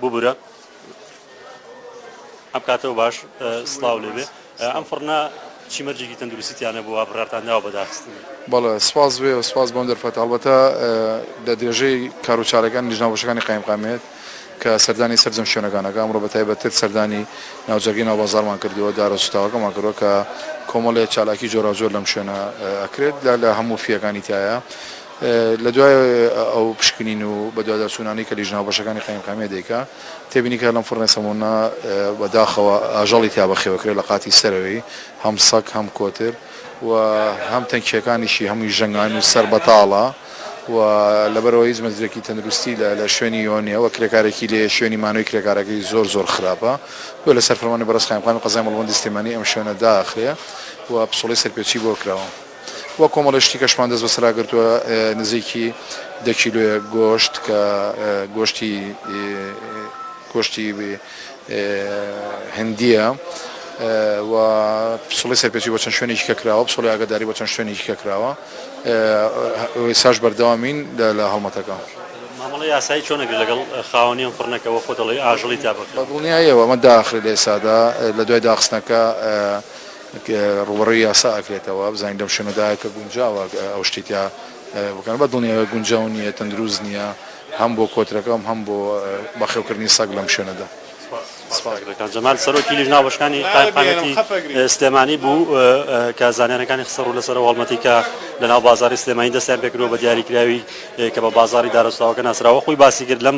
ببورە ئەم کاتەوە باش سلااو لێبێ ئەم فڕنا چی مەرجێکی تەندروستیانە بووە بڕاتان ناوە بەداخستن بەڵێ سپاس وێ و سپاس بۆم دەرفەت هەڵبەتە لە درێژەی کاروچارەکان لیژناوەشەکانی قایمقامێت کە سەردانی سەرجەم شوێنەکانەکە ئەمڕۆ بە تایبەتتر سەردانی ناوجەگەی ناوبازارمان کردووە دارە سوتاوەکەمان کردوە کە کۆمەڵێ چالاکی جۆراوجۆر لەم شوێنە ئەکرێت لە لە هەموو فیەکانی تایە لە دوای ئەو پشکنین و بەدواداچوونانەی کە لیژنە هاوبەشەکانی قایمقامیە دەیکا، تێبینی کرا لەم فڕنە سەموونە بە داخەوە ئاژەڵی تیا بەخێوە کرێ لە قاتی سەرەوەی، هەم سەگ هەم کۆتر و هەم تەنکییەکانیشی هەمووی ژەنگاوین و سەر بەتاڵە و لەبەرئەوە هیچ مەزرێکی تەندروستی لە لە شوێنی یۆ نیە و کرێکارێکی لێیە شوێنی مانەوەی کرێکارەکەی زۆر زۆر خراپە گوێ لەسەر فەرمانی بەڕێز قایمقامی قەزای مەڵبەندی سلێمانی ئەم شوێنە داخرێ و پسوڵەی سەرپێچی بۆ کراوە. و کۆمەڵێ شتی کەشمان دەست بەسەرا گرتووە نزیکی دە کیلۆیە گۆشت کە گۆشتی گۆشتی هندیە و پسڵی سەرپێچی بۆ چەند شوێنێکی کە کراوە پسڵی ئاگداری بۆ چەند شوێنێکی کە کراوە ساش بەردەوامین لە هەڵمەتەکە مامەڵە یاسایی چۆنەگر لەگەڵ خاوەنیان فڕنەکەەوە خۆ دەڵی ئاژڵی تا بە دڵنیایەوە ئەمە داخری لێسادا لە دوای داخستنەکە ڕووبەڕووی یاسا ئەکرێتەوە بزانین لەم شوێنە دا کە گونجاوە ئەو شتەی تیا بکەن بە دڵنیایە گونجاو نییە تەندروست نییە هەم بۆ کۆترەکەم هەم بۆ بەخێوکردنی سەگ لەم شوێنە دا. سپاس برا کان جەمال سەرۆکی لیژنە هاوبەشەکانی قایمقامیەتی سلێمانی بوو کە زانیاریەکانی خستە ڕوو لەسەر ئەو هەڵمەتی کە لە ناو بازاری سلێمانی دەستیان پێکردووە بە دیاریکراوی کە بە بازاری دارەسوتاوەکە ناسراوە خۆی باسی کرد لەم